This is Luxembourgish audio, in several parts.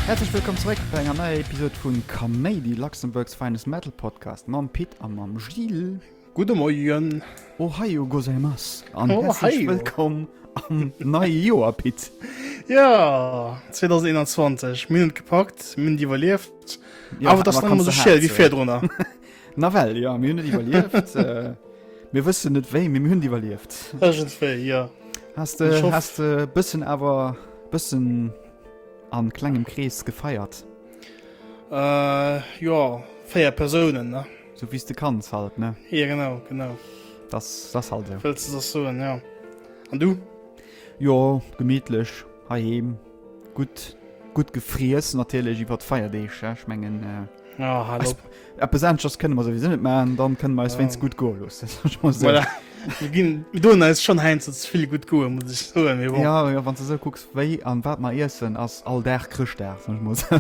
Häerzlech wëllkomm zeréck bei enger neier Episod vun Kaméidi, Luxembourg's finest metal podcast mam Pit a mam Gilles. Gudde Moien! Ohayo gozaimasu an hässlech wëllkomm am neie Joer, Pit! Jo, 2021, mir hunn et gepackt, mir hunn et iwwerlieft, awer et ass nach ëmmer esou schiel ewéi virdrunner. Nawell jo, mir hunn et iwwerlieft. Mir wëssen net wéi, mee mir hunn et iwwerlieft. Iergendwéi, jo. Has de e bëssen awer e bëssen a klengem Krees gefeiert? Jo, véier Persounen, ne? Sou wéi s de kanns halt, ne? Jo, genau, genau. Dass, dass halt esou. Wëlls de dass soen, jo. An du? Jo, gemiitlech heiheem. Gutt, gutt gefriess natierlech iwwert d'Feierdeeg, ja. Ech mengen, Ja, hal eis, op. eppes aneschters kënne mer souwisou net maachen, dann kënne mer eis wéinst gutt goe loossen, soe ech mol esou. Voilà. Mir ginn, mir doen eis schonn heiansdo ze vill gutt goe, muss ech soen, mee bon. Jo, jo, wann s de esou kucks, wéi an wat mer iessen, ass all Dag Chrëschtdag, soe ech mol esou.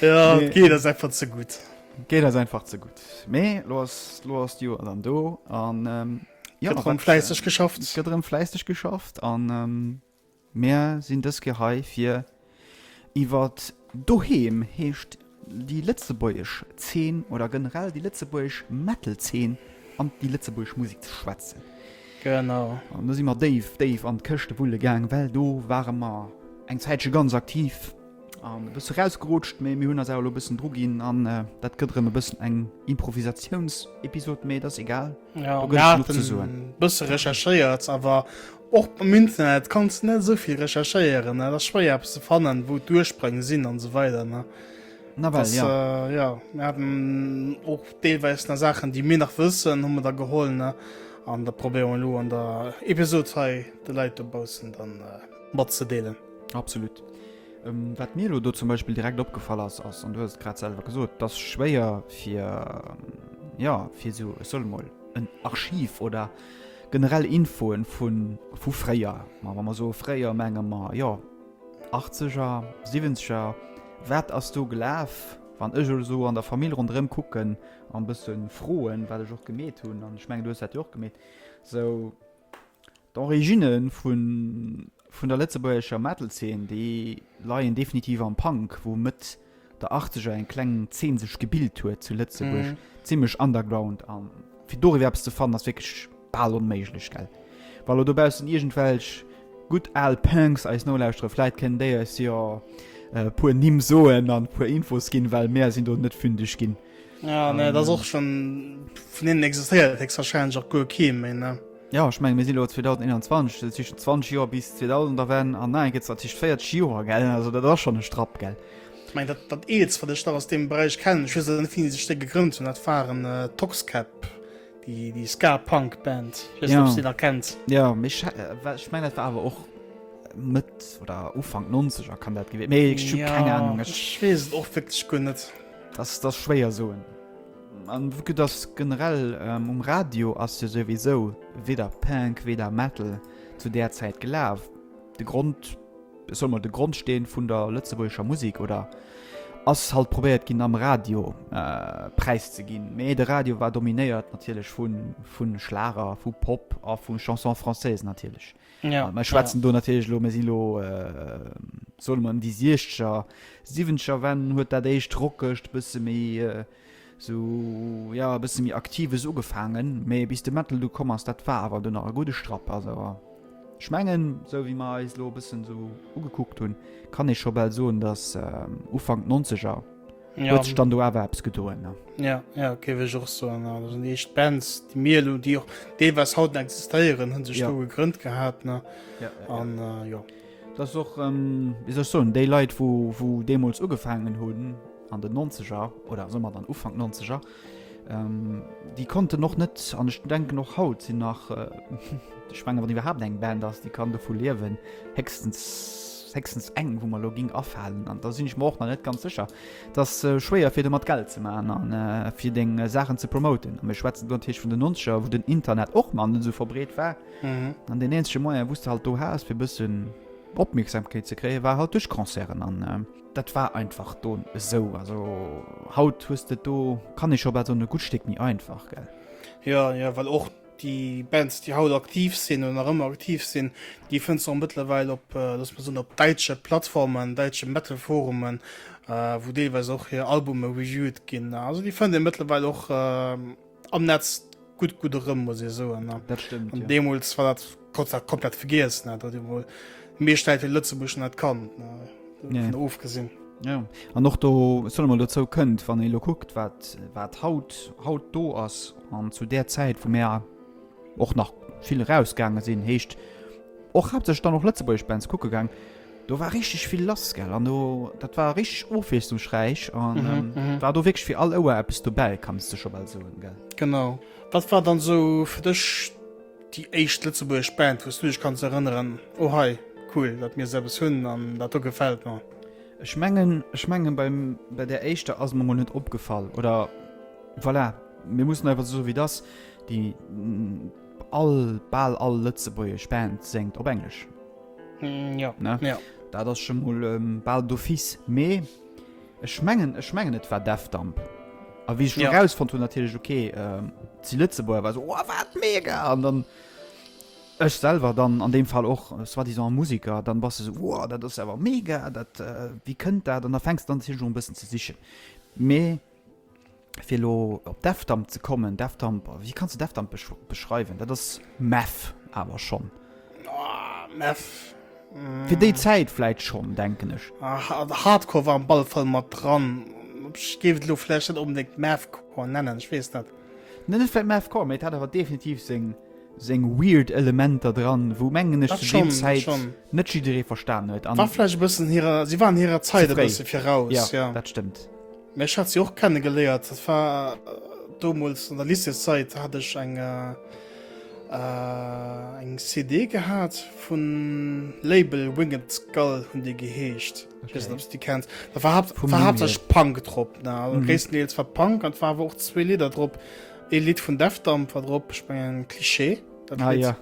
Ja, nee. Geet ass einfach ze gutt. Geet ass einfach ze gutt. Mee lo ass lo ass Joer an do an ähm, ja, gëtt fläisseg äh, geschafft. Gëtt rëm fläisseg geschafft an ähm, Meer sinn dës Ke hei fir iwwer doheem heescht déi Lëtzebuergesch Zeen oder generell déi Lëtzebuerg Metalzeen an déi Lëtzebuerg Musik ze schwätzen. Genau. An da si mat Dave Dave an d'Këchte wulle gang, well do ware mar eng Zäitsche ganz aktiv. An e bësse rausgerutscht, mee mir hunn eis awer elo e bëssen dru ginn an dat gëtt erëm e bëssen eng Improvisatiounsepisod, mee et ass egal. Ja, mir hate bësse recherchéiert, awer och am Internet kanns de net esou vill recherchéieren. Et ass schwéier eppes ze fannen, wou d'Ursprong sinn an esou weider. Nawell jo. Jo, mir haten och deelweis nach Saachen, déi mir nach wëssen, hu mer da geholl an da probéiere mer elo an der Episod hei de Leit dobaussen dann matzedeelen. Absolut. Ähm, wat mir lo do zum Beispill direkt opgefall ass, ass an du hast grad selber gesot, das schwéier fir ähm, ja fir so soll mal en Archiv oder generell Infoen vun vu fréier ma wann man so fréier menge ma ja 80er 70er wat ass du gelaf wann ech so an der Familie rondrem kucken an bëssen froen wat ech och gemet hunn an schmengen du hat och gemet so D'Originne vun der lëtzebuergescher Metal-Zeen, déi leien definitiv am Punk, wou Mëtt der Achtzeger eng kleng Zeen sech gebilt huet zu Lëtzebuerg, zimmlech underground. A fir doriwwer eppes ze fannen, ass wierklech bal onméiglech, gell? Wa elo dobaussen iergendwelch gutt al Punks eis nolauschtere, vläit kënnen déi eis jo e puer Nimm soen an e puer Infos ginn, well mär sinn do net fündeg ginn. Ja, nee, dat ass och schon vun hinnen existéiert héchstwahrscheinlech och guer kee méi, ne? Ja, ech menge mir si lo 2021, dat si schon 20 Joer bis 2000 da wären an nei gëtt natierlech 40 Joer, gell? Also dat ass schon e Strapp, gell? Ech meng dat dat Eelst, wat ech nach aus deem Beräich kennen, ech weess awer net wéini déi sech déi gegrënnt hunn, dat waren äh, Toxkäpp, déi déi Ska-Punk-Band. Ech weess net, ob Ja. s déi nach kennt. Ja, méi sche- äh, wa- ech meng dat war awer och Mëtt oder Ufank 90er kann dat gewier méi ech hu keng Ahnung, ech ech weess et och wierklech guer net. Dass dass schwéier soen an vu dass generell um Radio ass jo souwisou weder Punk weder Metal zu där Zäit gelaf. De Grond soll mer de Grondsteen vun der lëtzebuergescher Musik oder ass halt probéiert ginn am Radio präis ze ginn. Mee de Radio war dominéiert natierlech vu vun Schlager, vu Pop a vu Chanson française natierlech. Ja, mir schwätzen ja. do natierlech lo, mir sinn lo äh, soll man déi Siechter Siwenscher wenn huet dat éischt rockegt bësse méi äh, so ja bësse méi aktives ugefaangen, méi bis de Mettel du komm ass dat war awer du nach a gute Strapp ass awer. Schmengen sou wéi mar eis lo bëssen so ugekuckt hunn, kann ech scho bal soen, datt äh, Ufang 90er huet sech dann do awer eppes gedoen. Ja, ja, géif ech och soen. Also déi éischt Bands, déi mir elo, déi och deelweis haut nach existéieren, hunn sech do gegrënnt gehat. An jo. Dat ass och, wéi soll ech soen, déi Leit, wou deemools ugefaangen hunn an den Nonzeger oder somat an Ufank Nonzeger, Déi konnten och net, an ech denken och haut sinn nach, ech menge wann iwwerhaapt eng Band ass, déi kann dovu liewen, héchstens héchstens eng, wou mer elo géing afalen. An da sinn ech mer och nach net ganz sécher. Et ass schwéier fir domat Geld ze maachen an fir deng Saachen ze promoten. A mir schwätzen do natierlech vun den Nonzeger, wou den Internet och nach net esou verbreet war. An deen eenzege Moyen, wou s de halt do has fir e bëssen Opmierksamkeet ze kréien, war halt duerch Concerten. An. Dat war einfach don esou. Also haut hues de do, kann ee scho bal soen, e gutt Stéck méi einfach, gell? Ja, ja, well och déi Bands, déi haut aktiv sinn oder nach ëmmer aktiv sinn, déi fënns du och mëttlerweil op, äh, looss mer soen, op däitsche Plattformen, däitsche Metal-Forumen, äh, wou deelweis och hir Albume reviewed ginn. Also déi fënnt ee mëttlerweil och, äh, am Netz gutt gutt erëm muss ee soen dat stimmt an ja. Deemols war dat kurz dat komplett vergiess net dat emol meeschtäit fir Lëtzebuschen net kann nee. ofgesinn. Ja. An noch do solle man dozou kënnt, wann ee lo kuckt, wat wat haut haut do ass an zu der Zäit vu Mäer och nach vill rausgaange sinn heescht och hat sech dann noch Lëtzebuerg Bands kucke gang. Do war richteg vill lass gell an do dat war richteg ofwiesslungsräich an mhm, ähm, mhm. war do wirklich fir all Ouer Apps dobäi kannst du schon bald so gell. Genau wat war dann so fir dech déi éischt Lëtzebuerg Band wost du dech kannst erinnern oh hei cool dat mir selbst hunn an dat do gefällt mir. Ech mengen ech mengen beim bei der éischter ass man net opgefallen oder voilà mir mussssen einfach so wie das die All, bal all lëtzebuergesch Band séngt op Englesch. Jo, jo. Dat ass scho mol bal d'office. Mee ech mengen, ech mengen et war Defdump. A wéi ech lo erausfonnt hunn, natierlech, okay, et si Lëtzebuerger, war ech esou, Wow, wat mega! An dann ech selwer dann an deem Fall och soi-disant Museker, dann bass de esou, Wow, dat ass awer mega! Dat, wéi kënnt dat? An da fänks de un, natierlech och e bëssen ze sichen. Mee. Fir elo op Defdump ze kommen, Defdump, wéi kanns du Defdump beschreiwen? Dat ass Meth awer schonn. Meth. Fir déi Zäit vläit schonn, denken ech. Hardcore war am ball Fall mat dran. Ech géif et elo vläicht net onbedéngt Methcore nennen, ech weess net. Net vläicht Methcore, mee et hat awer definitiv seng seng weird Elementer dran, wou, mengen ech, zu deem Zäit net jidderee verstanen huet. War vläicht e bëssen hirer, si waren hirer Zäit e bësse viraus, jo. Dat stëmmt. Mä ech hat si och kennegeléiert. Dat war domols an der Lycéeszeit, hat ech eng äh, eng CD gehat vun Label Winged Skull hunn déi geheescht. Ich weess net, ob s déi kenns. Da war haupt, Vum war Numm hauptsächlich hier. Punk drop. Na, also Mhm. gréisstendeels war Punk an war awer och zwee Lidder drop. Ee Lidd vun Death Damp war drop, ich mengen Cliché, dat Ah Lidd. ja.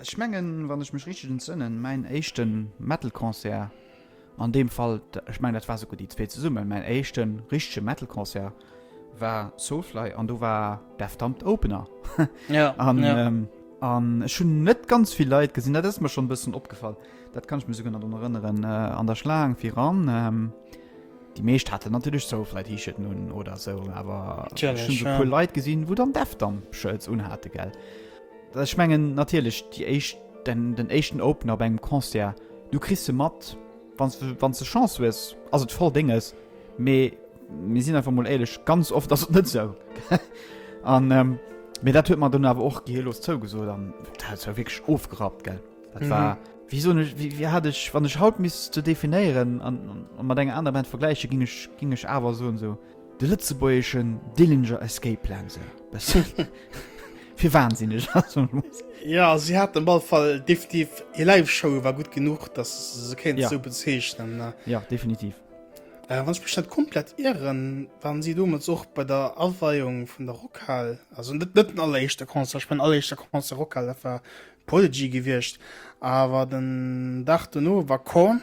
Ech mengen, wann ech mech richteg entsënnen, mäin éischte Metal-Concert an deem Fall, ech mengen dat war souguer déi zwee zesummen, mäin éischte richtege Metal-Concert war Soulfly an do war Deftombed Opener. Ja, an, ja. Ähm, an ech hunn net ganz vill Leit gesinn, dat ass mir schon e bëssen opgefall. Dat kann ech mir souguer nach drun erënneren, äh, an der Schlaang viran. Ähm, Déi meescht haten natierlech Soulfly-T-Shirten un oder sou, awer Natürlich, ech hunn souguer ja. Leit gesinn, wou dann Deftombed-Shirts unhate, gell. Ech mengen natierlech déi éischt, den éischten Opener op engem Concert, du kriss se mat, wann s de Chance hues ass et voll dénges, mee mir sinn einfach mol éierlech, ganz oft ass et net esou. Mee dat huet mer dunn awer och geheellos zougesot an dat war wierklech ofgerappt, gell. Dat war, wéi soen ech, wéi hat ech, wann ech haut misst se definéieren a mat enger anerer Band vergläichen, ginn ech awer soen esou, De lëtzebuergeschen Dillinger Escape Plan se bessen fir wahnsinneg ass am Schluss. Ja, si hat am all Fall definitiv hir Live-Show war gut genug, dass se kéint Ja. sou bezeichnen. Ne? Ja, definitiv. Äh, wann ech mech net komplett irren, waren si domat och bei der Aweiung vun der Rockhal. Also net net den alleréischte Concert, ech mein alleréischte Concert Rockhal, dat war Prodigy gewiescht, awer den Dag dono war Korn.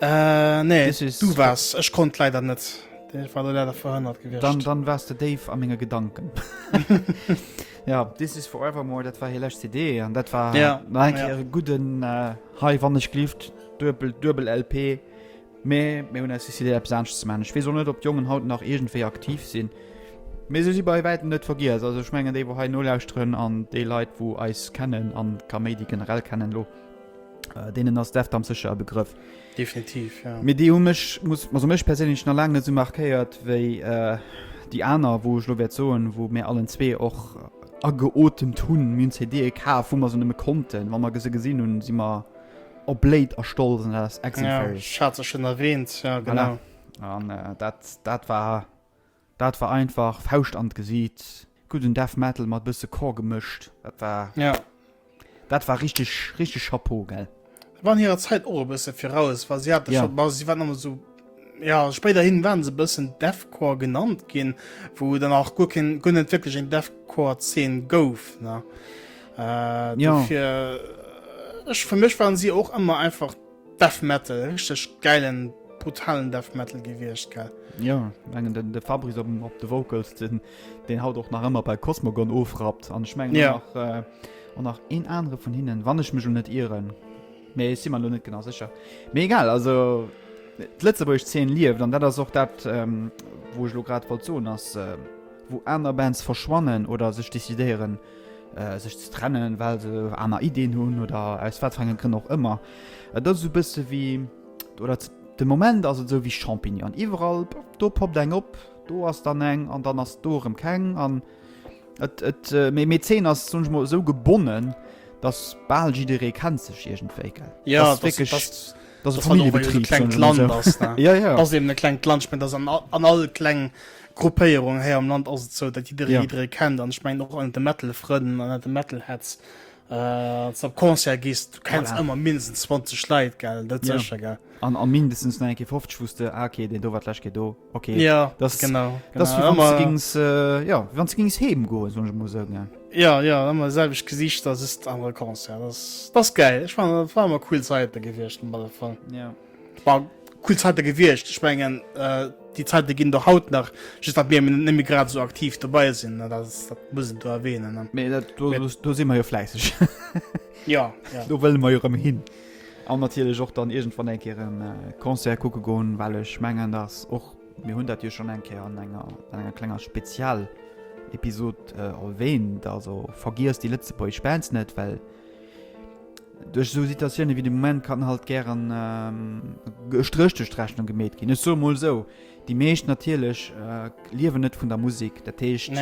Äh, nee, This is- du wars. Ech konnt leider net. Ech war do leider verhënnert gewiescht. Dann, dann wars de Dave a menge Gedanken. ja, This is Forevermore, dat war hir lescht CD an dat war Ja, nach eng ja. Kéier e gudden äh, Hei wann ech glift, Duebel, Duebel LP. Mee mir hunn aus der CD eppes anescht ze man. Ech weess och net, ob d'Jongen haut nach iergendwéi aktiv sinn. Mee se si bei wäitem net vergiess. Also ech mengen déi, wou hei nolauschteren an déi Leit, wou eis kennen an Kaméidi generell kennen elo, Äh, denen ass Deftam secher e Begrëff. Definitiv ja. Mee déi hu mech muss also mech persinnlech na laang net sou markéiert wéi äh, déi aner, wou ech lo wäert soen, wou mé allen zwee och äh, ageotemt hunn minn CD ka vu mer se nëmme konnten, Wa mer gese gesinn hunn si mer op Bléit erstolzen ass Ex Schazechen erwähnt ja, genau. Voilà. An äh, dat dat war. Dat war einfach Fauscht an d'Gesiit, gudden Death Metal mat bësse Core gemëscht. Dat war ja dat war richteg richteg Chapeau gell. Waren hirer Zäit och e bësse viraus, wa si hate scho si waren ëmmer sou ja spéider hin waren se bëssen Deathcore genannt ginn, wou dann nach guer keen guer net wierklech eng Deathcore Zeen gouf ne. Dofir ech fir mech waren si och ëmmer einfach. Death Metal, richteg gäilen, brutalen Death Metal gewiescht, gell? Jo, ech mengen den de Fabrice op op de Vocals, den deen haut och nach ëmmer bei Cosmogon ofrappt an ech mengen och nach yeah. äh, och nach een anere vun hinnen, wann ech mech elo net ieren. Mee si man lo net genau sécher. Mee egal, also d'Lëtzebuerg 10 lieft an dat ass och dat ähm, wou ech lo grad wollt soen ass äh, wou aner Bands verschwannen oder sech decidéieren sech ze trennen, well se aner Ideen hunn oder aus wat fir enge Grënn och ëmmer. Et ass esou e bësse wéi oder de Moment ass et esou wéi Champignonen. Iwwerall do poppt eng op, do ass dann eng an dann ass do erëm keng an et et méi méi d'Zeen ass soen ech mol esou gebonnen, datt bal jidderee kennt sech iergendwéi, gell. Jo, dass et wierklech, dass et, dass et Familljebetrib soen ech mol esou. Jo, jo. Et ass eben e klengt Land. Ech mengen, et ass an all kleng Gruppéierung héi am Land ass et sou, dat jidderee jidderee kennt an ech mengen och an de Metal-Frënn an de Metal-Heads äh, op Concert gist, du kenns voilà. ëmmer mindestens 20 Leit gell dat ja. secher gell. An a mindestens nach enke 50 wusste ah, okay den do wat lech do okay ja, das, genau, genau. Das ëmmer gings äh, ja wann ze gings heem goe so muss sagen, ja. Ja ja ëmmer selwech Gesicht dat ist am Concert das, das geil. Ech war war cool Zeitite gewichtchten bei der Fall. Ja. War cool Zäite gewiescht. Ech mengen, déi Zäite ginn der haut nach, just datt mir net méi grad esou aktiv dobei sinn. Dat ass, dat muss een do erwähnen. Mee dat, do, do si mer jo fläisseg. Jo, jo. Do wëlle mer jo erëm hin. An natierlech och dann iergendwann eng Kéier e Concert kucke goen, well ech mengen, datt och, mir hunn dat jo schonn eng Kéier an enger, an enger klenger Spezialepisod erwähnt, also vergiesst déi lëtzebuergesch Bands net, well. Duerch esou Situatioune wéi de Moment kann halt gären e Stréch duerch d'Rechnung gemeet ginn. Ech soe mol esou, déi meescht natierlech liewen net vun der Musek, dat heescht,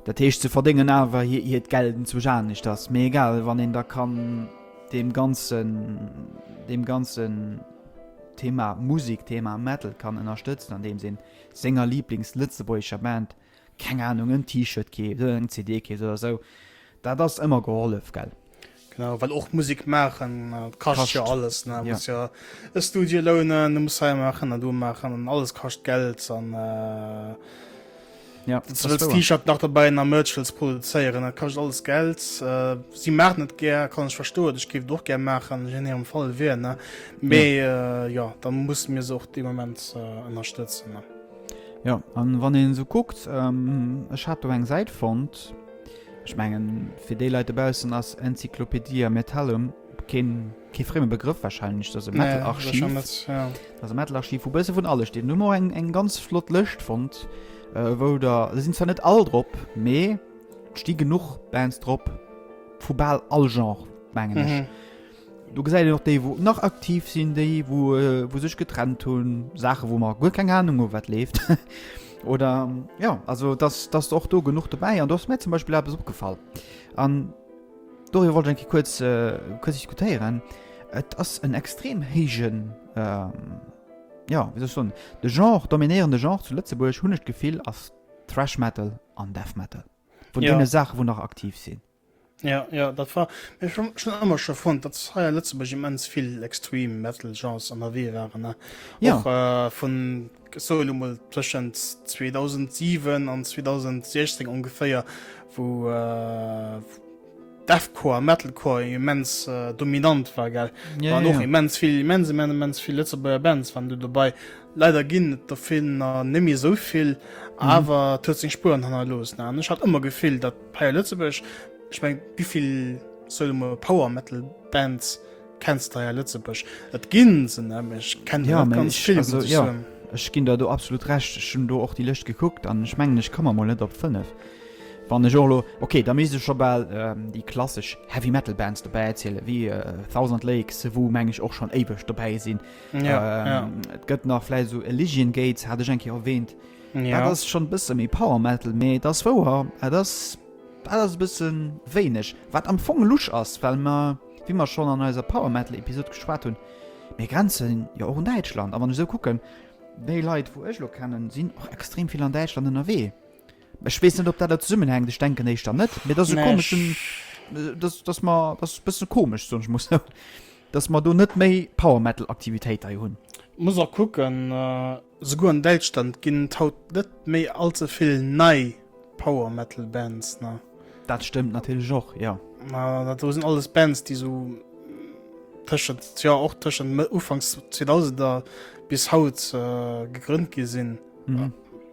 dat heescht se verdéngen awer hiert Geld enzwousch aneschters. Mee egal, wann een da kann deem ganzen, deem ganzen Thema Musek, Thema Metal kann ënnerstëtzen, andeems ee senger Liiblings-lëtzebuergescher Band Keng Ahnung, en T-Shirt keeft oder eng CD keeft oder sou, dat ass ëmmer gehollef, gell? Genau, well och Musek maachen kascht jo alles, ne? Du muss jo e Studio lounen, du muss hei maachen a do maachen an alles kascht Geld an wann s du wëlls T-Shirt nach dobäi an a Merch wëlls produzéieren, dat kascht alles Geld. Si maachen et gär, kann ech verstoen, ech géif et och gär maachen, wann ech am Fall wier, ne? Mee jo, da musse mir se och dee Moment ënnerstëtzen. Ja, an wann een esou kuckt, ech hat do eng Säit fonnt, ech mengen fir déi Leit dobaussen ass Encyclopaedia Metallum keen, kee frémme Begrëff wahrscheinlech, dat ass e Metal-Archiv, dat ass e Metal-Archiv wou e bësse vun alles steet. Hu mer och eng, eng ganz flott Lëscht fonnt, wou der, se sinn zwar net all drop, mee et sti genuch Bands drop vu bal all Genre, mengen ech. Do gesäit een och déi wou nach aktiv sinn, déi wou sech getrennt hunn, Saache wou mer guer keng Ahnung hu wat leeft oder ja also dass dass och do genuch dobäi an do ass mär zum Beispill eppes opgefall an doriwwer wollt ech eng Kéier kuerz kuerz diskutéieren. Et ass en extrem héijen jo wéi soll ech soen, de Genre, dominéierende Genre zu Lëtzebuerg hunn ech d'Gefill ass Thrash Metal an Death Metal, vun deene Saache wou nach aktiv sinn. Ja, ja, dat war ech schon schon ëmmer schon fand, dat hei Lëtzeburg immens vill Extreme Metal Genres an der Wee waren ne ja. Och, äh, vun Solomon tschend 2007 an 2016 ongeféier wo äh, Defcore Metalcore immens äh, dominant war ge ja, war ja, noch ja. immens vill immense men immens vill Lëtzeburger Bands wann du dabei leider ginn der Film nimi sovill mhm. awer tö seg Spuren hanner los ne? ich hat immer gefillt dat Hei a Lëtzebuerg, ech meng, wéivill soll de mol Power Metal Bands kenns de hei a Lëtzebuerg? Et ginn se ne, mee ech kenne jo net ganz vill, muss ech soen. Ech ginn der do absolut Recht. Ech hunn do och déi Lëscht gekuckt an ech mengen, ech komme mol net op fënnef. Wann ech och elo, okay, da misst ech scho bal déi klassesch Heavy Metal Bands dobäi zielen, wéi Thousand Lakes, wou meng ech och schonn éiweg dobäi sinn. Et gëtt nach vläicht esou Elysian Gates, hat ech eng Kéier erwähnt. Dat ass schonn bësse méi Power Metal, mee et ass wouer, et ass, dat ass e bësse wéineg. Wat am Fong lusch ass, well mer, wéi mer schonn an eiser Power Metal Episod geschwat hunn, mir grenze jo och un Däitschland. A wann ech esou kucken, déi Leit wou ech elo kennen, sinn och extrem vill an Däitschland ënnerwee. Ech weess net ob dat der zesummenhänkt, ech denken éischter net, mee et ass e komeschen, dass, dass mer, dass ass e bësse komesch, soen ech mol esou, dass mer do net méi Power Metal Aktivitéit hei hunn. Muss och kucken. Souguer an Däitschland ginn et haut net méi all ze vill nei Power Metal Bands, ne? Dat stëmmt natierlech och, jo. Ma dat do sinn alles Bands, déi esou tëschent, jo, och tëschent ufanks Zweedausender bis haut gegrënnt gi sinn.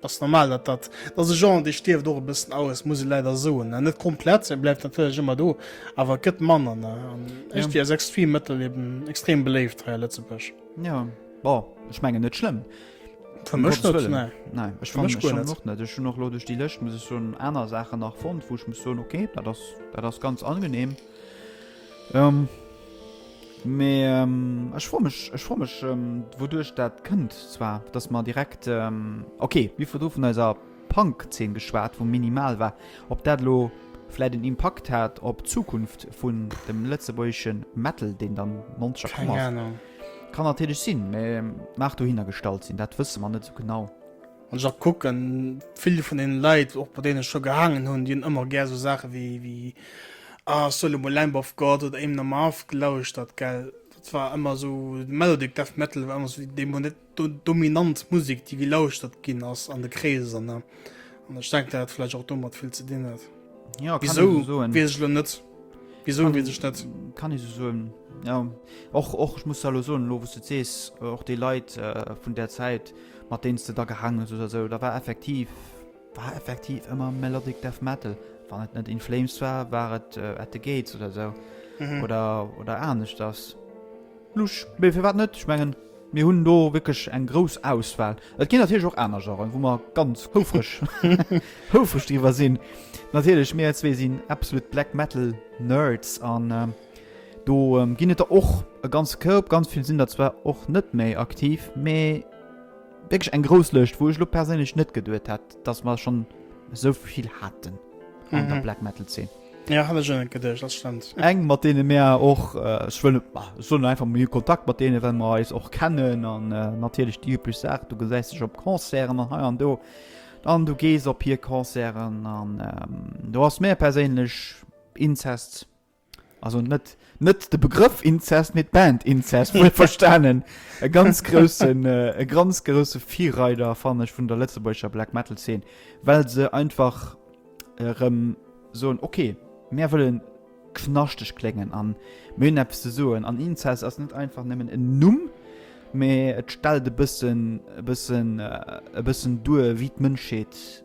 Ass normal, dat dat ass e Genre, dee stierft och e bëssen aus, muss ee leider soen, ne? Net komplett, e bleift natierlech ëmmer do, awer et gëtt manner, ne? An ech déi als Extreme Metal eben extrem beléift hei a Lëtzebuerg. Ja bon, ech mengen net schlëmm. Für mich Gottes Willen. Nein, nein ich fand mich auch nicht. Ich noch durch die Liste muss ich so andere Sachen nach fand, wo ich muss so okay, da das da das ganz angenehm. Ähm, mehr, ähm, ich freue mich, ich freue mich, ähm, wodurch das könnt zwar, dass man direkt, ähm, okay, wie viel davon ist ab? Punk-Zeen geschwat, wou minimal war. Ob dat elo vläit en Impakt hat op d'Zukunft vun dem lëtzebuergesche Metal, deen dann monster komm ass, kann natierlech sinn, mä mag dohinnergestallt sinn. Dat wësse mer net esou genau. Wann ech och kucken, vill vun deene Leit, och bei deenen ech scho gehaangen hunn, déi hunn ëmmer gär esou Saache wéi A Soul elo mol Lamb of God oder Amon Amarth gelauschtert, gell. Dat war ëmmer esou, de Melodic Death Metal war ëmmer esou dee Moment, dominant Musik déi gelauschtert ginn ass an de Kreeser ne an ech denken dat hat vläicht och domat vill ze dinn huet. Ja, kann Wieso ich so soen. wees ech lo net wieso Kann- wees ech net. Kann ee so soen. Ja. Och, och, ech muss da lo soen, lo wou s du et sees, och déi Leit äh, vun där Zäit, mat deenen s de da gehaangen hues oder esou, da war effektiv, War effektiv ëmmer Melodic Death Metal, wann et net In Flames war, war et At the Gates oder sou oder aneschters. Lusch, mee firwat net? Ech mengen, mir hunn do wierklech eng grouss Auswahl. Et ginn natierlech och aner Genren, wou mer ganz houfreg houfreg driwwer sinn. Natierlech, mir zwee sinn absolut Black Metal Nerds an do ginn et der och e ganze Koup. Ganz vill sinn der zwar och net méi aktiv, mee. Wierklech eng grouss Lëscht, wou ech lo perséinlech net geduet hätt, dass mer schonn esou vill haten an der Black Metal Zeen. Jo, hat ech och net geduecht, dat stëmmt. Eng, mat deene mir och, ech wëll net, ech soen einfach, mir hu Kontakt mat deenen, well mer eis och kennen an natierlech déi üblech Saach, du gesäis dech op Concerten an hei an do an du gees op hir Concerten an do ass mär perséinlech Incest. Also net net de Begrëff Inzest, mee d'Band Inzest, wuel verstanen. E ganz groussen, äh, e ganz grousse Virreider, fannen ech, vun der lëtzebuergescher Black Metal Zeen, well se einfach erëm soen, okay, mär wëlle knaschteg kléngen an mir hunn eppes ze soen. An Inzest ass net einfach nëmmen en Numm, mee et stellt e bëssen, e bëssen, e bëssen duer, wéi d'Mënschheet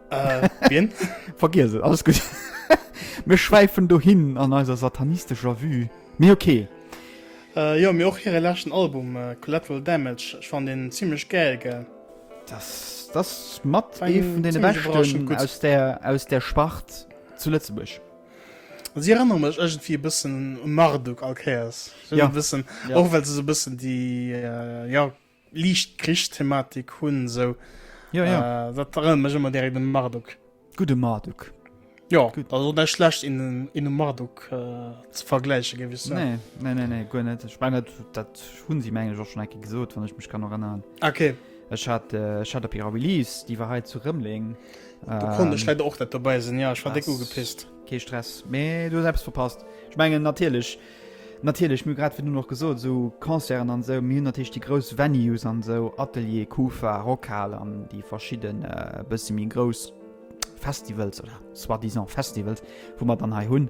Äh, wien? Vergiess et, alles gut. Mir schwäifen do hin an eiser satanistescher Vue. Mee okay. Äh, jo, mee och hire leschten Album, äh, Collateral Damage, ech fand deen zimlech gäil, gell? Das, das mat War ee een vun deene ziemlich beschten überraschend gut. aus der, aus der Spart zu Lëtzebuerg. Si erënnere mech ëgentwéi e bëssen u Marduk all Kéiers. So Ja. e bëssen, Ja. och well se sou e bëssen déi, äh, ja, liicht Krichsthematik hunn esou ja, ja. Äh, dat erënnert mech ëmmer direkt um Marduk. Gute Marduk. Ja, Gut. also net schlecht in, in um Marduk äh, ze vergläiche gewiss. Nee, nee, nee, nee, guer net. Ech meine, dat hunn si menglech och schon enke gesot, wann ech mech kann erinnern. Okay. Ech hat, äh, ech hat op ihrer Release, déi war heit zu Rëmling. Da ähm, konnte ech leider och net dobäi sinn, ja, ech war déck ugepisst. Kee Stress, mee du selbst verpasst. Ech mengen natierlech, Natierlech, mir hu grad virdrun och gesot, esou Concerten an esou, mir hunn natierlech déi grouss Venues an esou, Atelier, Kufa, Rockhal an déi verschidde bësse méi grouss Festivals oder soi-disant Festivals, wou mer dann hei hunn.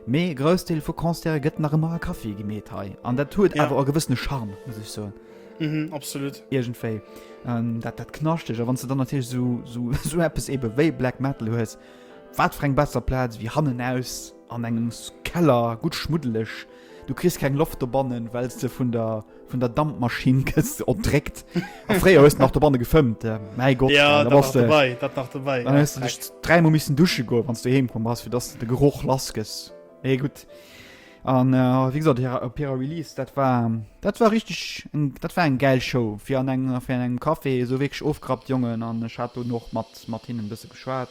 Mee e Groussdeel vu Concerte gëtt nach ëmmer a Caféë gemeet hei an dat huet awer e gewëssene Charme, muss ech soen. Absolut. Iergendwéi dat, dat Knaschteg. A wann s de dann natierlech esou, esou eppes ebe wéi Black Metal hues, wat fir eng besser Plaz wéi hannen aus? An engem Keller, gutt schmuddeleg. Du kriss keng Loft dobannen, well s de vun der, vun der Dampmaschinn gëss erdréckt. A fréier hues de nach dobanne gefëmmt. Mäi Gott, ja, da bass de. Dabei, dat nach dabei. Dann hues de dech dräimol missen dusche goen, wann s de heem komm bass, fir dass de de Geroch lass gëss. Mee gutt. An wéi gesot, hir, op hirer Release, dat war, dat war richteg eng, dat war eng gäil Show. Fir an engem, fir an engem Café, esou wierklech ofgerappt Jongen. An ech hat dunn och mat, mat hinnen e bësse geschwat.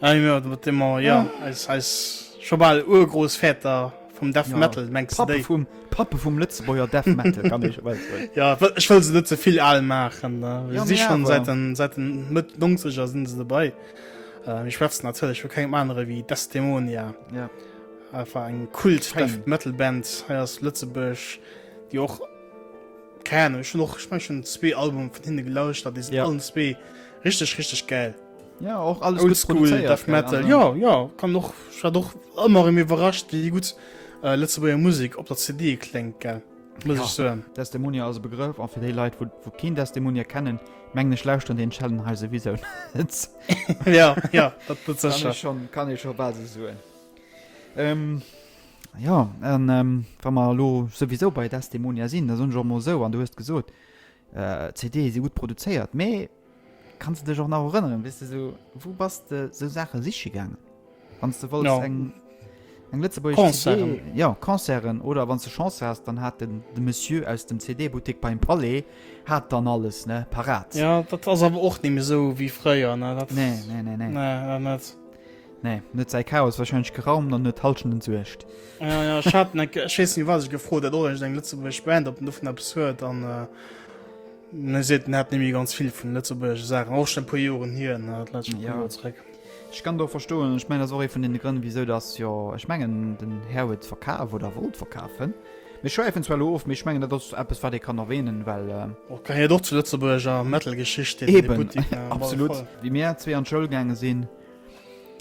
Ah jo, mat deem mer, jo, eis, eis scho bal urgrouss Väter vum Death Metal, ja. mengste déi? D'Pappe vum, d'Pappe vum Lëtzebuerger Death Metal, kann ee scho soen. Ja, ech wëll se net ze vill al maachen, ne. Jo, si schonn säit den, säit den Mëtt Nongzeger si se dobäi. Mir schwätzen natierlech vu kengem anere wéi Desdemonia. Ja. Einfach eng Kult-Death Metal Band hei aus Lëtzebuerg, déi och, keng Ahnung, ech hunn och, ech mengen, ech hunn zwee Albume vun hinne gelauschtert, déi sinn allen zwee richteg, richteg gäil. Ja, och alles gut Oldschool produzéiert, Death keine Metal. Ahnung. Ja, ja, kann och ich war doch ëmmer im iwwerrascht, wéi gut äh, Lëtzebuerger Musik op der CD kléngt gell. Muss Ja. ich so. Desdemonia ass e Begrëff an fir déi Leit, wou, wou keen Desdemonia kennen, mengen ech lauschteren den Challenge hei souwisou net. ja, ja, dat dat kann secher. ech schon, kann ech schon bal se soen. Ähm, ja, an ähm, wa mer lo souwisou bei Desdemonia sinn, da soen ech och mol sou, an du hues gesot, äh, CD si gut produzéiert, mee Kanns de dech och nach erënneren, wéi s de esou, wou bass de esou Saache siche gaangen, wann s de wollts eng. Ja. Eng lëtzebuergesch CD? Concerten. Ja, Concerten. Oder wann s de Chance has, dann hat den de Monsieur aus dem CD-Buttek beim Palais hat dann alles, ne, parat. Ja, dat ass awer och ni méi esou wéi fréier, ne, dat. Nee, nee, nee, nee. Nee, dat net. Nee, en huet säi Chaos warscheinlech geraumt an huet d'Halschent entsuergt. Ja, ja, ech hat en, eng- ech weess ni, wat ech gefrot hat, ob ech eng lëtzebuergesch Band, ob en dovun eppes huet an. Äh, Mir seet net nemme ganz vill vun lëtzebuergesche Saachen, och schon e puer Joren hier, dat läscht schon puer Joer zréck. Ech kann et och verstoen, ech mengen dat ass och ee vun den Grënn wisou dass jo ech mengen den Här huet verkaf oder wollt verkafen. Mir schwäifen zwar elo of, mee ech mengen dat ass eppes wat ee kann erwähnen, well. Och gehéiert och zur lëtzebuergescher Metalgeschicht deen Eben, Buttik ne, absolut. Wéi mir zwee an d'Schoul gaange sinn,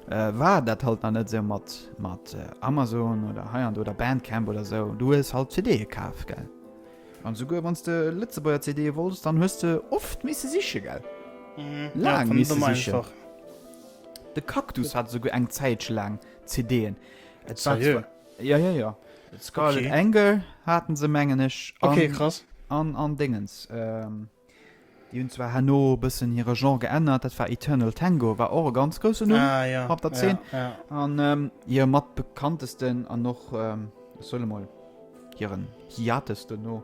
war dat halt nach net esou mat mat Amazon oder hei an do oder Bandcamp oder esou, du hues halt CDe kaf, gell. An souguer wanns de Lëtzebuerger CDe wolls, dann hues de oft misse sichen, gell? Laang misse sichen. De Cactus hat souguer eng Zäitche laang CDen. Et war zwar. Jo, jo, jo. Scarlet Angel haten se, mengen ech. Ok, krass. An, an Déngens. Ech Déi hunn zwar herno e bëssen hire Genre geännert, dat war Eternal Tango, war och e ganz grousse Numm op der Zeen. An hire mat bekanntesten an och, ech soen emol, hiren Hiatus duerno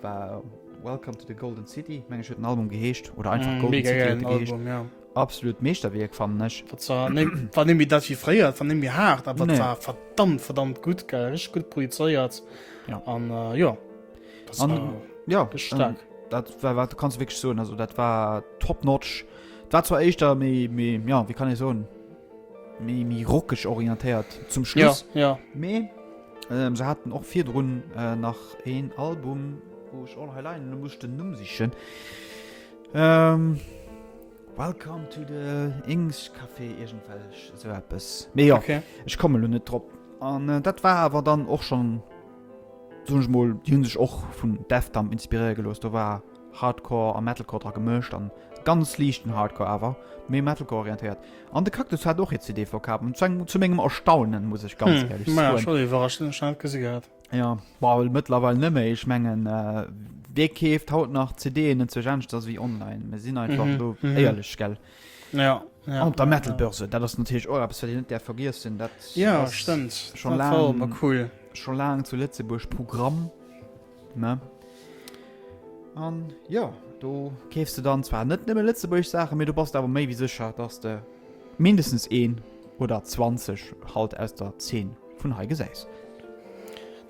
war Welcome to the Golden City, meng ech huet den Album geheescht, oder einfach Golden City huet e geheescht. Absolut Meeschterwierk, fannen ech. Dat war net méi dat wéi fréier, et war net méi haart, awer et war verdammt, verdammt gutt, gell, richteg gutt projizéiert. An jo. Das an, war ja, wirklich ähm, stark. Dat war, war, kannst du wirklich so, also dat war top notch. war zwar echt da me, me, ja wie kann ich so mi rockig orientiert zum Schluss ja, ja. Me, ähm, sie hatten auch vier run äh, nach een Album wo ich auch allein musste Nu sich ähm, welcome to the Ings Café irgendwelch so etwas. Me, ja, okay. ich komme net trop an äh, dat war aber dann auch schon Soen ech mol, déi hunn sech och vun Deftamp inspiréiere gelooss. Do war Hardcore a Metalcore dra gemëscht an ganz liichten Hardcore awer méi Metalcore orientéiert. An de Cactus hat och hir CD verkaf an zu engem, zu mengem Erstaunen, muss ech ganz éierlech soen. Hm, maja, scho iwwerrascht, hunn ech nach net gesi gehat. Jo, bauel mëttlerweil net méi. Ech mengen, wee keeft haut nach CDen, net zu Jänschs, ass ewéi online. Mir sinn einfach elo éierlech, gell? Ja. Ja, an der Metalbörse dat ass natürlich och eppes wat een net däerf vergiessen. Dat ja, stëmmt schon la cool schon laang zu Lëtzebuerg Programm ne. An ja do keefst du dann zwar net nëmme Lëtzebuerg Saache mir du passt awer méi wie secher, datt de mindestens een oder 20 halt aus der 10. vun hei gesäis.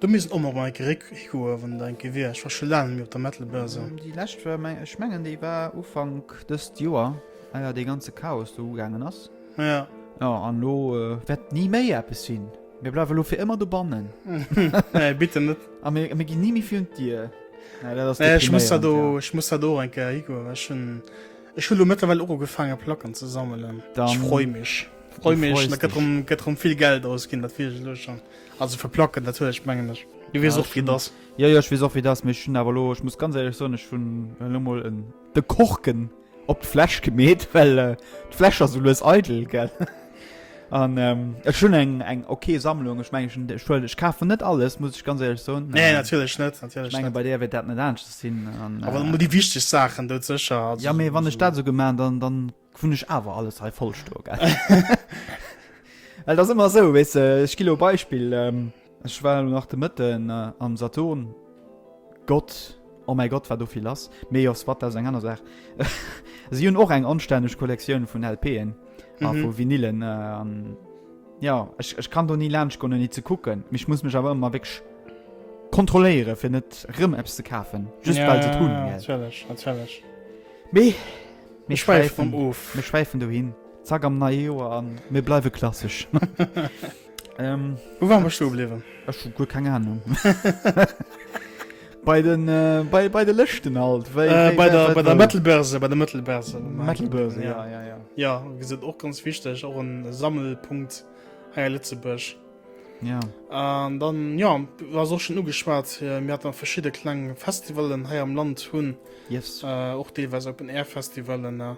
Do misst och mol enke réck goe wann der enke wier. Ech war scho laang net méi op der Metal Börse. Déi lescht war meng, ech mengen déi war Ufank dëst Joer eier dee ganze Chaos do ugaangen ass. Ja. Jo an elo wäert ni méi eppes sinn. Mir bleiwe elo fir ëmmer dobannen. Nee bitte net. A mir ginn ni méi virun d'Dier. Ech muss dat do, ech muss dat do och enke higoen well ech hunn. Ech hun lo mëttlerweil och ugefaange Placken ze sammelen. Ech freu mech. Freu mech, dat gëtt erëm vill Geld ausginn, dat weess ech elo schon. Also fir Placken natierlech, mengen ech. Du weess och wéi et ass. Jo jo, ech weess och wéi et ass, mee ech hunn awer elo, ech muss ganz éierlech soen, ech hunn elo mol de Korken op d'Fläsch gemeet, well d'Fläsch ass esou lues eidel, gell. An ähm, ech hunn eng eng okay Sammlung ech meng schon Schuld ech kafen net alles muss ich ganz ehrlich so nee natürlich net natürlich menge bei der wird dat net ernst sinn aber äh, die wichtig Sachen dort sicher also, ja mir wann ich dat so gemacht dann dann vun ich awer alles he vollsto ge das immer so wis weißt du, ich kilo Beispiel ähm, Ech war elo nach de Mëtten am Saturn, Gott, oh mäi Gott, war do vill lass. Mee jo, Swatta ass eng aner Saach. Si hunn och eng anstänneg Kollektioun vun LPen a vu Vinylen. Jo, ech kann do ni laanscht goen, ouni ze kucken. Mee ech muss mech awer ëmmer wierklech kontrolléieren, fir net erëm eppes ze kafen, just well se et hunn. Natierlech, natierlech. Mee mir schwäifen of. Mir schwäifen dohin, zack am neie Joer, a mir bleiwe klassesch. Ähm, Wou waren wir stehen geblieben? Ech hu guer keng Ahnung. bei den äh, bei, bei de Lëschten alt wéi- Äh, wéi- bei wer der, wat bei der wou. Metalbörse, bei der Metalbörse. Metalbörse, ja, ja, ja. Ja, wie gesagt, auch ganz wichtig, auch ein Sammelpunkt hier in Lützeburg. ja. Ähm, dann, ja, was auch schon angeschwärzt, äh, wir hatten verschiedene kleine Festivalen hier am Land, hun, Yes. äh, auch teilweise Open Air Festivalen, äh,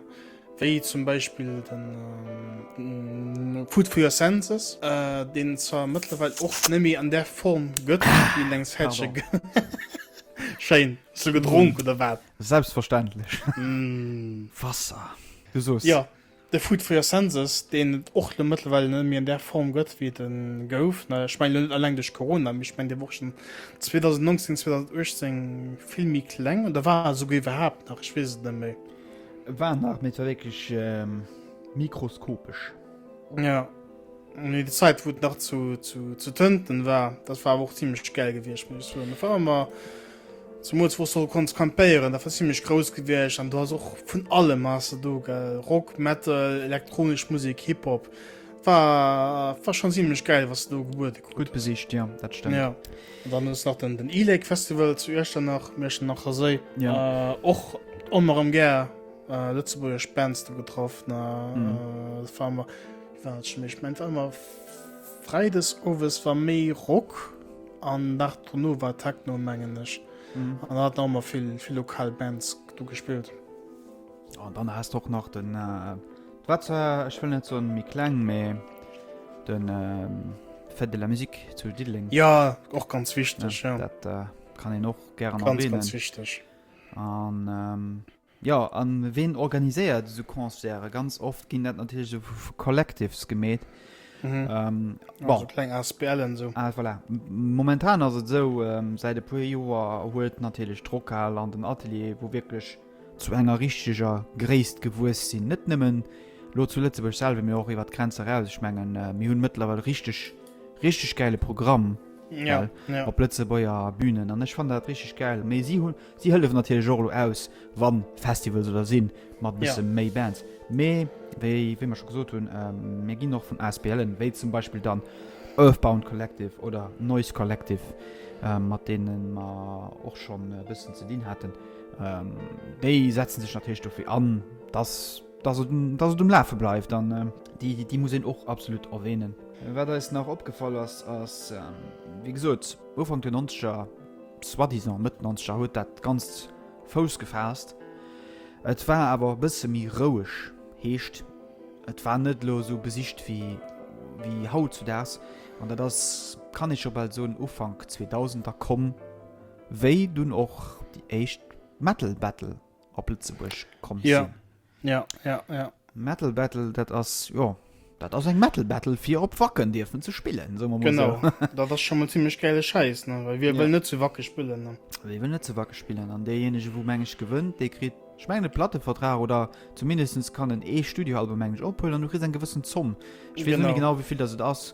wéi zum Beispill den Food for your senses, deen et zwar mëttlerweil och net méi an där Form gëtt, wéi en enges Häercher gëtt. Schéin. Hues du gedronk oder wat? Selbstverständlech. Wasser. Du soos. Jo, de Food for your senses, deen et och elo mëttlerweil net méi an där Form gëtt, wéi et e gouf. Ech mengen elo net alleng duerch Corona, mee ech mengen, dee wor schonn 2019, 2018 vill méi kleng oder war esouguer iwwerhaapt nach, ech weess et net méi. Et war nach méi wéineg mikroskopesch. Ja nee, die Zeit wot nach zu, zu, zu tënten war dat war och ziemlich geil gewircht muss war immer zum wo soll konst kampéieren da war ziemlich groß gewircht an du hast och vun alle Masse do ge Rock metal elektronisch Musik Hip-Hop war war schon ziemlich geil was du gebuet gut besicht ja dat stimmt ja. An dann ass nach den, den E-Lake Festival zu Iechternach, Iechternach Séi. Ja. Äh, och onm erëm gär äh, lëtzebuergesch Bands do getraff. Na, Mhm. äh, das war immer, wie war dat schon méi? Ich mein, war immer Freides owes war méi Rock an nach dono war Techno, mengen ech. Mhm. An da hat auch mal vill, vill lokal Bands do gespielt. An dann hast du och nach den äh, War zwar, ech wëll net soen méi kleng, mä de Fête de la Musique zu Diddeleng. Jo, och ganz wichteg. Dat kann een och gären erwänen. Ganz, ganz wichteg. An jo, a ween organiséiert esou Concerte? Ganz oft ginn dat natierlech esou vu Collectives gemeet. Bon. Kleng Asbl'en esou. Ah, voilà. Momentan ass et esou, säit e puer Joer huet natierlech d'Rockhal an den Atelier, wou wierklech zu enger richteger Gréisst gewuess sinn, net nëmmen elo zu Lëtzebuerg selwer, mee och iwwert d'Grenz eraus. Ech mengen, mir hunn mëttlerweil richteg, richteg gäile Programm, well op Lëtzebuerger Bünen an ech fannen dat richteg gäil. Mee si hunn, si hëllefen natierlech och elo aus, wa Festivals oder sinn, mat e bësse méi Bands. Mee wéi, wéi mer scho gesot hunn, mir ginn och vun Asbl'en, wéi zum Beispill dann Earthbound Collective oder Noise Collective, mat deene mer och schonn e bëssen ze dinn haten, Ähm, déi setzen sech natierlech dofir an, dass dass et, dass et um Lafe bleift an ähm, déi, déi, déi muss een och absolut erwähnen. Wat eis nach opgefall ass, ass ähm, wie gesot, Ufank der 90er, soi-disant Mëtt 90er huet dat ganz Fouss gefaasst. Et war awer e bësse méi roueg, heescht et war net lo sou besicht wéi wéi haut zu daags an dat ass, kann ee scho bal soen, Ufank 2000er komm, Wéi dunn och déi éischt Metal Battle op Lëtzebuerg komm sinn. Jo, jo, jo. Metal Battle, dat ass, jo, dat ass eng Metal Battle fir op Wacken dierfen ze spillen, soe mer mol esou. Genau, dat ass scho mol zimmlech gäile Schäiss, ne, well wie wëll net zu Wacke spillen, ne? Wie wëll net zu Wacke spillen? An deejéinege wou, meng ech, gewënnt, dee kritt, ech mengen, e Plattevertrag oder zumindest kann en ee Studioalbum, meng ech, ophuelen an du kriss eng gewëssen Zomm, ech weess elo net genau wéi vill datt et ass.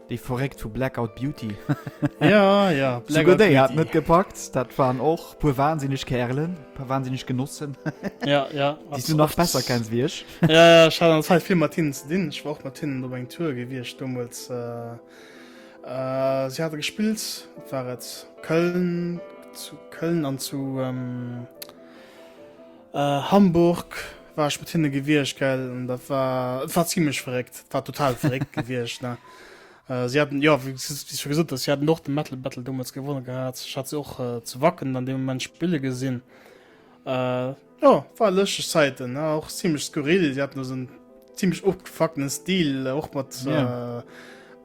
Déi verréckt vu Blackout Beauty. ja, ja, Blackout Beauty. hat net gepackt. Dat waren och puer wahnsinnig Kerlen, puer wahnsinnig Genossen. ja, ja. Dies du nach besser kenns wie ich. ja, ja, ich hatte Zeit viel mit hinnen zu dienen. Ich war auch mit hinnen op eng Tour gewiescht damals. Äh, äh, sie hatte gespielt, war et Köln, zu Köln an zu... Ähm, Hamburg war ech mat hinne gewiescht, gell, an dat war, et war zimmlech verréckt, et war total verréckt gewiescht, ne. Si haten, jo, wéi s du scho gesot hues, si haten och de Metal Battle deemools gewonne gehat. Ech hat se och zu Wacken dann dee Moment spille gesinn. Jo, war lëschteg Zäiten, ne, och zimmlech skurril. Si haten do esou en zimmlech ofgefuckten Stil, och mat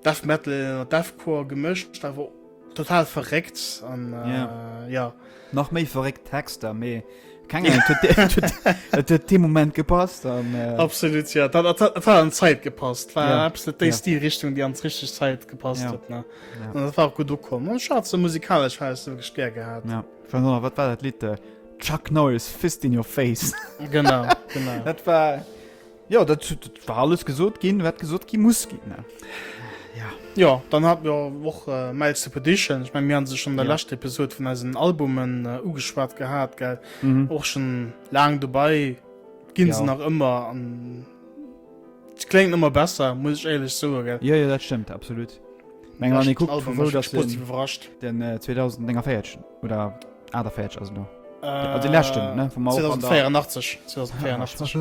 Death Metal, Deathcore gemëscht, awer. Total verréckt an äh, ja. ja. Nach méi verréckt Texter méi. Et de Moment gepasst an äh Absolut ja. dat, dat, dat, dat an Zäit gepasst ja. déi ja. die Richtung, déi ans richtig Zäit gepasst ja. hat ja. dat war gut ukom. Scha ze musikalesch he du gestär gehabt. Ja. Noch, wat war dat Litte? Äh, Chuck Norris fist in your face. genau, genau. dat war. Jo, dat war alles gesot ginn, wat gesot gi muss ginn. Ja. Jo, dann hat mir och äh, Miles Repetition. Ich mein, mir han se schon der ja. letzte Episode vun eisen Albumen äh, ugeschwat gehabt, gell? Mhm. Och schon lang dobei ginn ja. se nach ëmmer an klingt immer besser muss ich ehrlich so ja, ja, das stimmt absolut Menge, guckt, wo, wo, den, den, äh, 2004 oder 48 also noch äh, die letzten ne? vom 2084 2084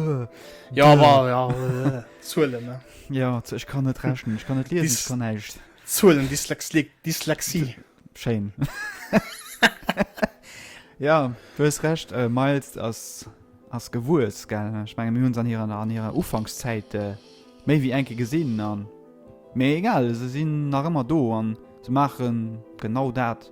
ja aber ja äh, Zuhlen, ne? ja ich kann nicht rechnen ich kann nicht lesen ich kann nicht Zuhlen, Dyslexie, Dyslexie. Shame. ja du hast recht äh, miles als als gewurz gerne ich meine uns an ihrer an ihrer ufangszeit äh, méi wie enke gesinn an mé egal se sinn nach ëmmer do an ze machen genau dat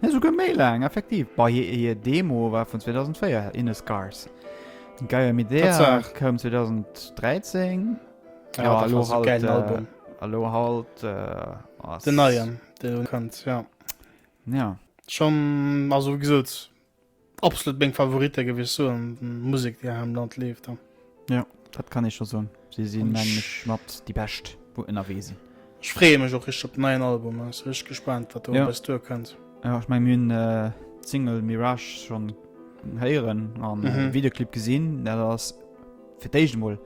Nee, esouguer méi laang, effektiv. Bei hir hir Demo war vun 2004, In the Scars. Gaia Midea Tatsaach. koum 2013. Ja, dat war sou gäilen äh, Album. a lo halt äh, ass. Den neien, deen elo kënnt, jo. Ja. Schonn, also wéi gesot, Absolut meng Favorite géif ech soen, Musek déi hei am Land leeft an. Jo dat kann ee scho soen. Si si meng ech mat déi bescht wou ënnerwee sinn. Ech freeë mech och richteg op den neien Album an si richteg gespaant wat do op eis duer kënnt. Jo ech meng mir hunn d'Single Mirage schonn héieren an Videoclip gesinn. Dat ass fir d'éischt emol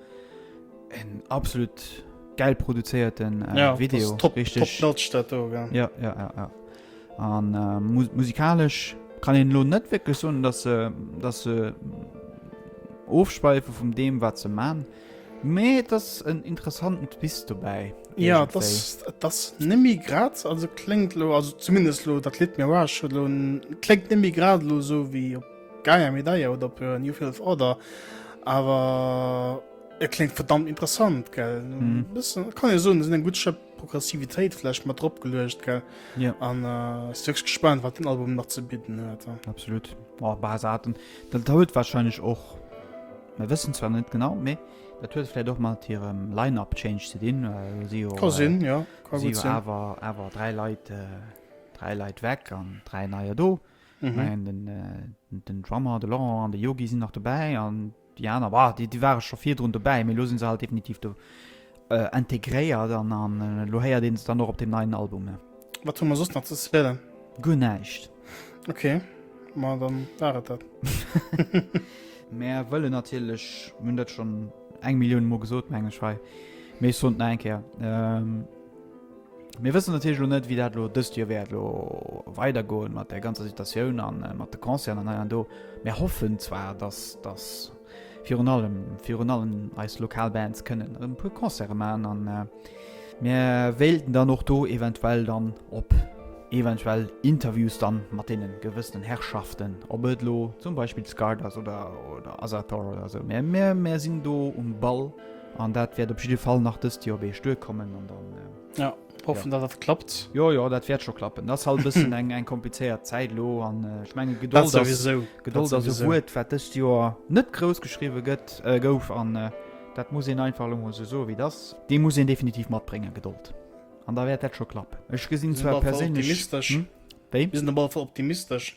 en absolut gäil produzéierten Video. Top notch dat do gell. Jo jo jo jo. An musikalesch kann een elo net wierklech soen, datt se, datt se ofschweife vum deem, wat se man. Mee et ass en interessanten Twist dobäi. Jo, et ass, et ass nemmi grad, also kléngt elo, also zumindest elo dat Lidd Mirage huet elo, kléngt nemmi grad elo esou wéi op Gaia Medaia oder op New Filth Order, awer et kléngt verdammt interessant, gell. Bëssen kann ee soen, et sinn eng gutt Schëpp Progressivitéit vläicht mat drop geluecht gell ja. an äh, ass wirklich gespannt wat den Album nach ze bidden huet ja. absolut oh, Basaten dat huet wahrscheinlich och wir wëssen zwar net genau méi dat huet vielleicht doch mal ihrem Line-up change ze dinn äh, si jo, äh, sinn ja awer awer drei Leiit äh, drei Leiit weg an drei neier do mhm. den, äh, den Drummer de Laurent an de Yogi sinn nach dabei an Déi aner, bah, déi, déi ware scho virdrun dobäi, mee elo si se halt definitiv do integréiert an elo héiert ee se dann och op deem neien Album. Wat hu mer soss nach ze spoilen? Guer näischt. Ok, ma da war et dat. Mär wëllen natierlech, mir hunn dat schonn eng Millioun Mol gesot, meng ech hei, mee ech soen et nach eng Kéier, Mir wëssen natierlech elo net, wéi dat elo dëst Joer wäert elo weidergoen mat der ganzer Situatioun an mat de Concerten an hei an do. Mir hoffen zwar, dass, dass virun allem, virun allem eis lokal Bands kënnen erëm e puer Concerte maachen an mir wéilten dann och do eventuell dann op eventuell Interviews dann mat deene gewëssenen Herrschaften, ob et elo zum Beispill Scarred ass oder, oder Asator oder esou. Mä mir, mir sinn do um Ball. An dat wäert op jidde Fall nach dëst Joer beescht duerkommen an dann. Ja, hoffen, datt dat klappt. Jo, jo, dat wäert scho klappen. Et ass halt e bëssen eng, eng komplizéiert Zäit elo an ech menge Dat Gedold ass, souwisou. Dat Gedold ass e souwisou. Wuert, wat dëst Joer net grouss geschriwwe gëtt, äh, gouf an dat muss een einfach elo mol esou soen, wéi et ass. Déi muss een definitiv matbréngen, Gedold. An da wäert dat scho klappen. Ech gesinn Mir sinn op zwar alle Fall perséinlech. optimistesch. Hm? Wéi? Mir sinn op alle Fall optimistesch.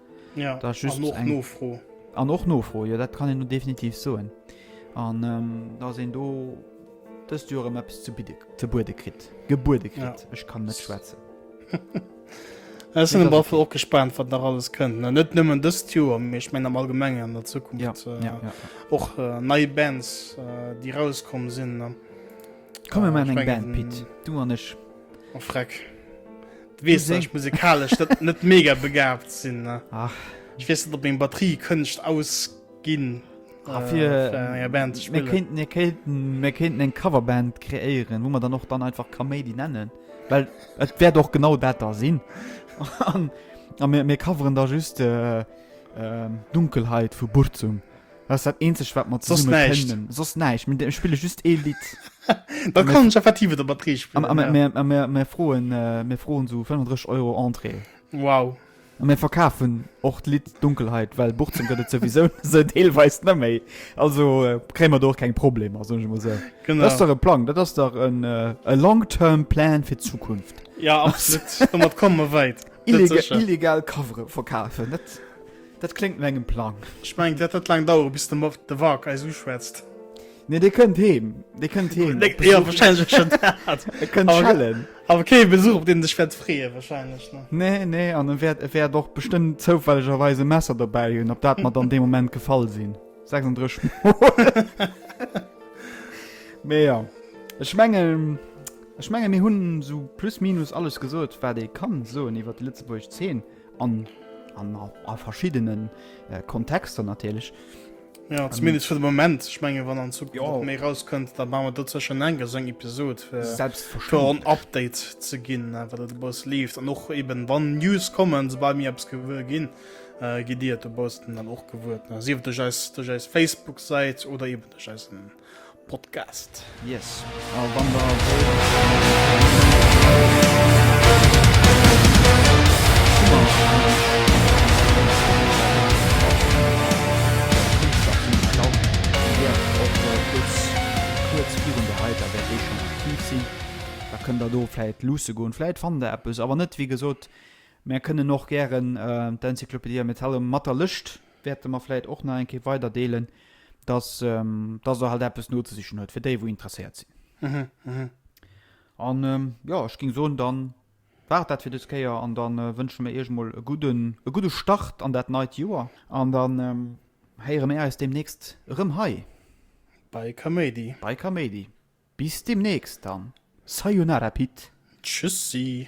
Ja, da just an och eng... Nofro. An och Nofro, jo dat kann en definitiv soen. An ähm, da sinn do dëst Joer ëm eppes ze bidde ze buede kritt. Gebuede kritt. Ja. Ech kann net schwätzen. Ech sinn am Waffel och gespannt, wat nach alles kënnt. net nëmmen dëst Joer, méch meng am allgemmengen an der Zukunft. Ja. Äh, ja, ja. Och äh, nei Bands, äh, déi rauskommen sinn. Äh, Komme man eng Band Pit. Du an ech. Oh freck. Du wees sech musikalesch dat net mega begabt sinn ne. Ach. Ich wees net op eng Batterie kënnecht ausginn. Afir ah, äh, Band mir kéinten mir kéinten mir kéinten eng Coverband kreéieren, wo man dann och dann einfach Kaméidi nennen. Well et wäert och genau dat da sinn. An mir mir coveren da just äh, äh, Dunkelheit vu Burzum. Dat ass dat eenzegt wat mer zesummen kënnen. Soss näischt. Soss näischt, mir spille just ee Lidd. Da kann ech effektiv et op der Prix spillen. A mir, a mir, mir froen, mir froen esou 35 Euro Entrée. Wow. A mir verkafen och d'Lidd Dunkelheit, well Buchzem gëtt et souwisou deelweis net méi. Also kréie mer do och keng Problemer, soen ech emol esou. Genau. Dat ass dach e Plang, dat ass dach en e long term plan fir d'Zukunft. Ja, absolut. Domat komme mer wäit. Illegal Covere verkafen, net? Dat kléngt no engem Plang. Ech mengen, dat wäert laang daueren, bis de Mord de Wark eis uschwätzt. Nee, dee kënnt heem. Dee kënnt heem. Op Besuch. Jo, wahrscheinlech och schonn dat. E kënnt schellen. Awer kee Besuch, op deen en sech wäert freeën, wahrscheinlech, ne? Nee, nee, an e wäert, e wäert och bestëmmt zoufällegerweis e Messer dobäi hunn, op dat mer dann dee Moment gefall sinn. 36 Mol. Mee jo. Ech mengen, ech mengen, mir hunn esou plus minus alles gesot, wat ee kann soen iwwert déi lëtzebuergesch Zeen. An a verschiddene Kontexter natierlech. Jo, zumindest fir de Moment. Ech menge wann an Zukunft méi erauskënnt, da maache mer dat sécher nach eng Kéier, esou eng Episod, fir en Update ze ginn, wat et dobausse leeft. An och eben, wann News kommen, soubal mir eppes gewuer ginn, gitt Dir et dobaussen dann och gewuer, sief et duerch eis Facebook-Säit oder eben duerch eisen. Podcast. Yes. A wann der da kënnt der do vläit luusse goen, vläit fannt der eppes, awer net wéi gesot, mär kënnen och gären d'Enzyklopädie Metallum mat der Lëscht wäerte mer vläit och nach eng Kéier weiderdeelen, dass dass der halt eppes nozesichen huet fir déi wou interesséiert sinn. An jo, ech géing soen, dann war et dat fir dës Kéier an dann wënsche mir iech emol e gudden e gudde Start an dat neit Joer an dann héiere mir eis deemnächst erëm hei Bei Kaméidi. bei Kaméidi. Bis deemnächst dann. Sayonara Pit. Tschüssi.